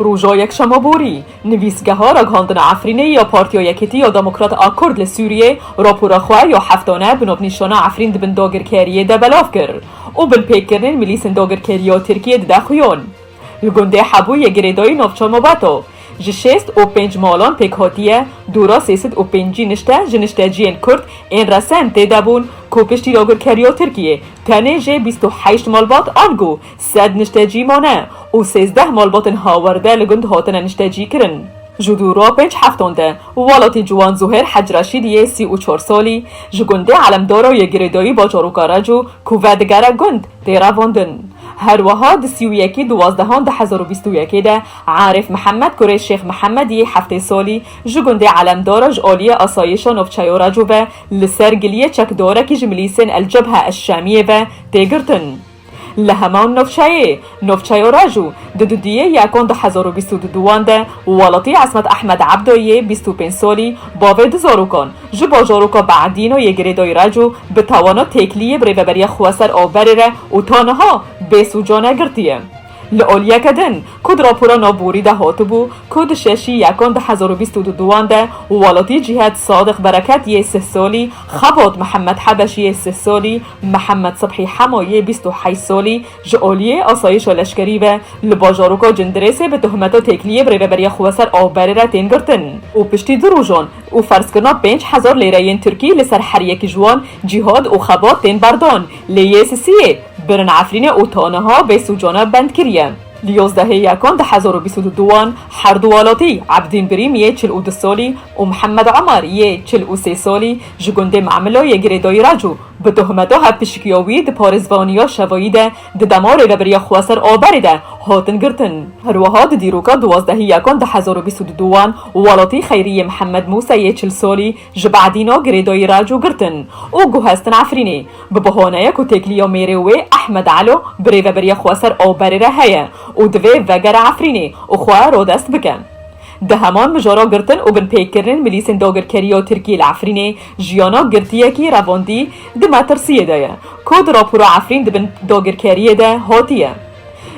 Roja Yekşema borî, nivîsgeha ragihandina Efrînê ya Partiya Yekîtî ya Demokrat a Kurd li Sûriyê rapora xwe ya heftane bi navnîşana Efrîn di bin dagirkeriyê de belav kir û binpêkirinên milîsên dagirkerî ya Tirkiyê dide xuyan. Li gundê Hebû yê girêdayî navçeya Mabeta, ji şêst û pênc malan pêk hatiye dora sê sed û pêncî nişte ji nişteciyên Kurd ên resen tê de bûn ku piştî dagirkeriya Tirkiyê Tenê jê bîst û heşt malbat ango sed niştecî mane û sêzdeh malbatên hawerde li gund hatine niştecîkirin. Ji dû ra pênc heftan de welatî ciwan Zuhêr Hecreşîd yê sî û çar salî ji gundê Elemdaro yê girêdayî bajarûka Reco ku vedigere gund, tê revandin. Herweha di sî û yekî duwazdehan du hezar û bîst û yekê de Arîf Mihemed kurê Şêx Mihemed yê heftê salî ji gundê Elemdaro ji aliyê asayîşa navçeya Reco ve Li ser giliyê çekdorekî ji milîsên El Cebhe El Şamiyê ve tê girtin. Li heman navçeyê, navçeya Raju, di dudiyê yekan du hezar û bîst û du wan de welatî Esmet Ehmed Ebdo yê bîst û pênc salî bavê du zarokan ji bajaroka Be'edîno yê girêdayî Raju bi tawana têkliyê bi rêveberiya xweser averê re û ta niha bê sûcane girtiye. Li olyeke din ku di rapora nav borî de hatibû ku di şeşî yekan di hezar û bîst û du duwan de welatî cîhet Sadiq Bereket yê sih salî, xebat Mihemed Hebeş yê sih salî, Mihemed Sibhî Hema yê bîst û heşt salî ji aliyê asayîşa leşkerî ve li bajaroka Cindirêsê bi tuhmeta têkiliyê bi rêveberiya xwe ser avberê re tên girtin û piştî du rojan û ferzkirina pênc hezar lêreyên tirkî li ser her yekî ji wan cîhat û xebat tên berdan. Lê yê sisiyê birin Efrînê û ta niha vê sûcana bend kiriye. Li yozdehê Yekan du hezar û bîst û du duwan her du welatî Ebdîn Birîm yê çil û du salî û Mihemed Omar yê çil û sê salî ji gundê Me'mila yê girêdayî re cû bi tohmeta hevpişikiya wî di parêzvaniya şevayî de di dema Rêveberiya Xweser Aberê de hatin girtin. Her wiha di dîroka duwazdehî Yekan du hezar û bîst û du duwan welatî Xeyrî yê Mihemed Mûse yê çil salî, Ji Badîno girêdoyî re cû girtin û guhestin Efrînê. Bi bihoneye ku têkiliya mêrê wê Ehmed Elo bi rêveberiya xwe ser awberê re heye û divê vegere Efrînê û xwe rodest bike. Di heman mijara girtin û binpêkirinên milîsên dagirkeriya Tirkiyê li Efrînê jiyana girtiyekî revandî di metirsiyê de ye ku di rapora Efrîn di bin dagirkeriyê de hatiye.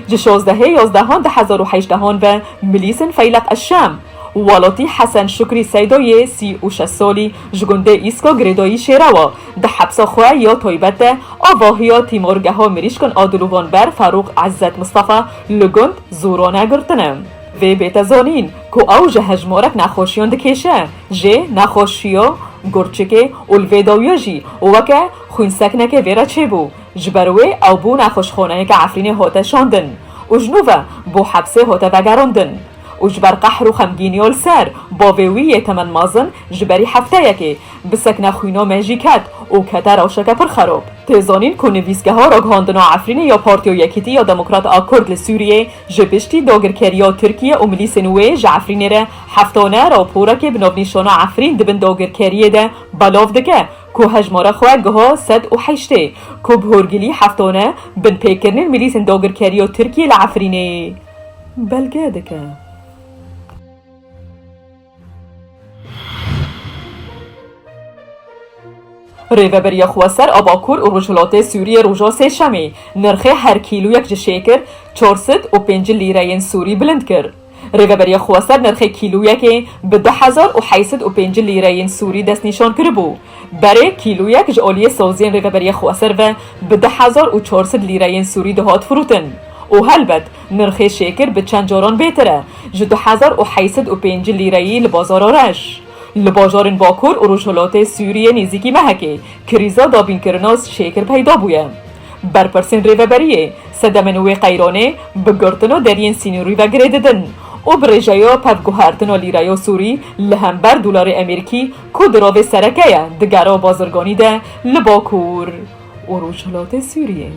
Ji şozdehê yozdehan du hezar û hejdehon ve milîsên Feyleq Eşşem, Walotî Hesen Şukrî Seydo yê sî û şeş solî ji gundê Îsko girêdayî Şêrewa di hepsa xwe ya taybet de avahiya tîmorgeha mirîşkên a dilûvan ber Ferûq Îzzet Mistefa li gund Zûrone girtine. Vê bête zanîn ku ew ji hejmarek nexweşiyan dikêşe jê, nexweşiya gurçikê û li vê dawiya jî weke xwînseknekê vê re çêbû. Ji ber wê ew bû nexweşxaneyeke Efrînê hate şandin û ji nû ve bo hepsê hate vegerandin û ji ber qehr û xemgînî ya li ser bavê wî yê temen mezin ji berî hefteyekê bi sekna xwîna me jî ket û kete rewşeke pir xerab. Tê zanîn ku nivîsgeha ragihandina Efrînê ya Partiya Yekîtî ya Demokrat a Kurd li Sûriyê ji piştî dagirkeriya Tirkiye û milîsên wê ji Efrînê re heftane raporekê bi navnîşana Efrîn di bin dagirkeriyê de belav dike ku hejmara xwe giha sed û heştê, ku bi horgilî heftane binpêkirinên milîsên dagirkerî ya Tirkiyê li Efrînê belge dike. Rêveberiya Xweser a Bakur û Rojhilatê Sûriyê roja sêşemê nirxê her kîloyek ji şêkir, çar sed û pêncî lîreyên sûrî bilind kir. Rêveberiya xwe ser nirxê kîloyekê bi du hezar û heşt sed û pêncî lîreyên sûrî destnîşan kiribû. Berê kîloyek ji aliyê saziyên rêveberiya xwe ser ve bi du hezar û çar sed lîreyên sûrî dihat firotin û helbet nirxê şêkir bi çend caran bêtir e ji du hezar û heşt sed û pêncî lîreyî li bazara reş. Li bajarên bakur û rojhilatê Sûriyê nêzîkî mehekê krîza dabînkirina şêkir peyda bûye. Berpirsên Rêveberiyê sedemên wê qeyronê bi girtin û deriyên sînorî ve girê didin û bi rêjeya pevguhertina lîreya sûrî li hember dolarê emêrikî ku dirovê sereke ye digera bazirganî de li Bakur û Rojhilatê Sûriyê.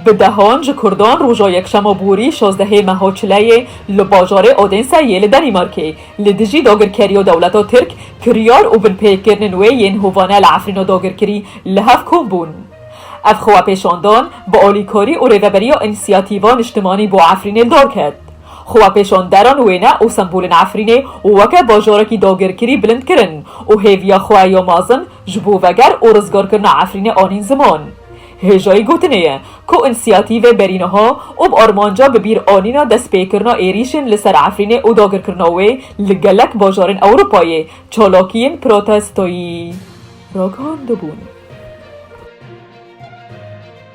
Bi dehan ji Kurdan roja Yekşema borî şazdehê meha çileyê li bajarê Odense yê li Danîmarkê li dijî dagirkeriya dewleta Tirk kiryar û binpêkirinên wê yên hovane li Efrîna dagirkirî li hev kom bûn. Ev xwepêşandan bi alîkarî û rêveberiya Înîsiyatîva Niştimanî bo Efrînê li dar ket. Xwepêşanderan wêne û sembolên Efrînê weke bajarekî dagirkirî bilind kirin û hêviya xwe ya mezin Ji bo veger û rizgarkirina Efrînê anîn ziman. Hêjayî gotinê ye ku însiyatîvê berî niha û bi armanca bi bîr anîna destpêkirina êrîşên li ser Efrînê û dagirkirina wê li gelek bajarên Ewropayê çalakiyên protestoyî ragihandibûn.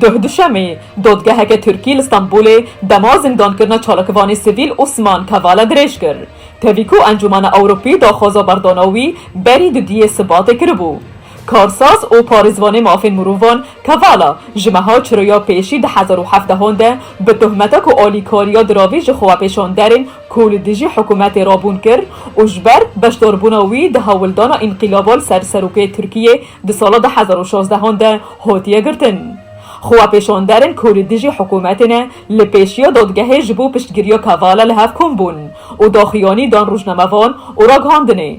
Duh Duşemê, dodgeheke Tirkî li Stenbolê dema zindankirina çalakvanê sivîl Osman Kavala dirêj kir. Tevî ku Encûmena Ewropî daxwaza berdana wî berî dudiyê Sibatê kiribû. Karsaz û parêzvanê mafên mirovan Kavala ji meha çiroya pêşî di hezar û heft dehan de bi tohmeta ku alîkariya diravî ji xwepêşanderên ku li dijî hikûmetê re bûn kir û ji ber beşdarbûna wî di hewldana înqîlaba li ser serokê Tirkiyê Di sala du hezar û şazdeh an de hatiye girtin. Xwepêşanderên ku li dijî hikûmetê ne li pêşiya dadgehê ji bo piştgiriya Kavala li hev kom bûn û daxuyanî dan rojnamevan û ragihandinê.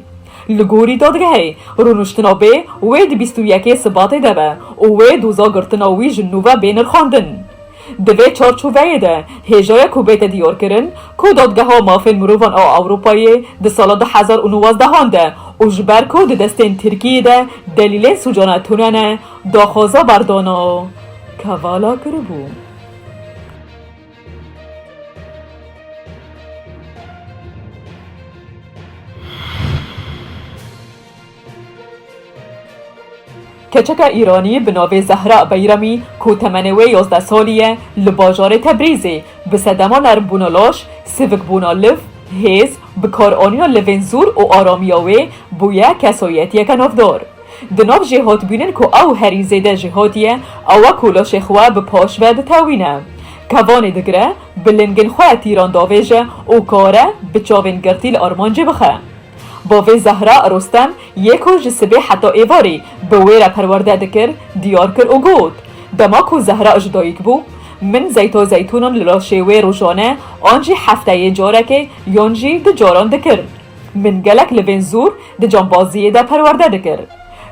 Li gorî dadgehê, rûniştina bê wê di bîst û yekê Sibatê de be û wê doza girtina wî ji nû ve bê nirxandin. Di vê çarçoveyê de hêjayek ku bête diyarkirin ku Dadgeha Mafên Mirovan a Ewropayê di sala du hezar û newazdehan de û ji ber ku di destên Tirkiyê de delîlên sûcana tune ne, daxwaza berdana Kavala kiribû. Keçeka Îranî bi navê Zehra Beyramî ku temenê wê yazdeh salî ye li bajarê Tebrîzê bi sedema nermbûna laş, sivikbûna liv, hêz, bikaranîna livên zûr û aramiya wê bûye kesoyetiyeke navdar. Di nav jêhatbûnên ku ew herî zêde jê hatiye ew e ku laşê xwe bi paş ve ditewîne, kevanê digire, bi lingên xwe tîran davêje û kare bi çavên girtî li armancê bixe. Bavê Zehra Rostem yê ku ji sibê heta êvarê bi wê re perwerde dikir diyar kir û got, Dema ku Zehra ji dayik bû, min zeyta zeytûnan li laşê wê rojane an jî hefteyê carekê yan jî du caran dikir. Min gelek li vên zûr di cambaziyê de perwerde dikir.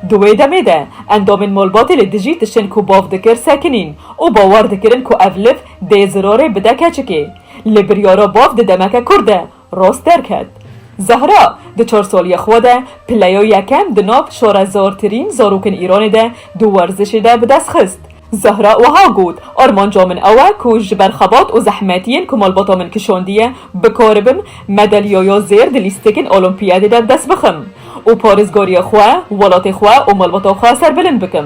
Di wê demê de endamên malbatê li dijî tiştên ku bav dikir sekinîn û bawer dikirin ku ev liv dê zirarê bide keçikê. Li biryara bav di demeke kurt de Rost derket. Zehra, di çar saliyê xwe de pileyo yekem di nav şorezartirîn zarokên Îranê de di werzişê de bi dest xist. Zehra wiha got, Armanca min ew e ku ji ber xebat û zehmetiyên ku malbata min kişandiye bikaribim madalyaya zêr di lîstikên Olîmpiyadê de bi dest bixim û parêzgariya xwe, welatê xwe û malbata xwe serbilind bikim.